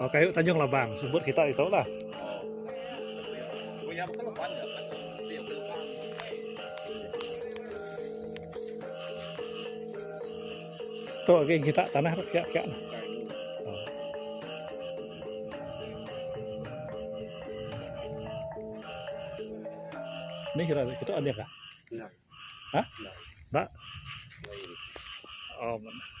Oh, kayu Tanjung Labang sebut kita itu lah. Tu lagi kita tanah tu kiak-kiak. Ni kira kita ada kah? Nah. Hah? Nah. Nah. Oh, mana?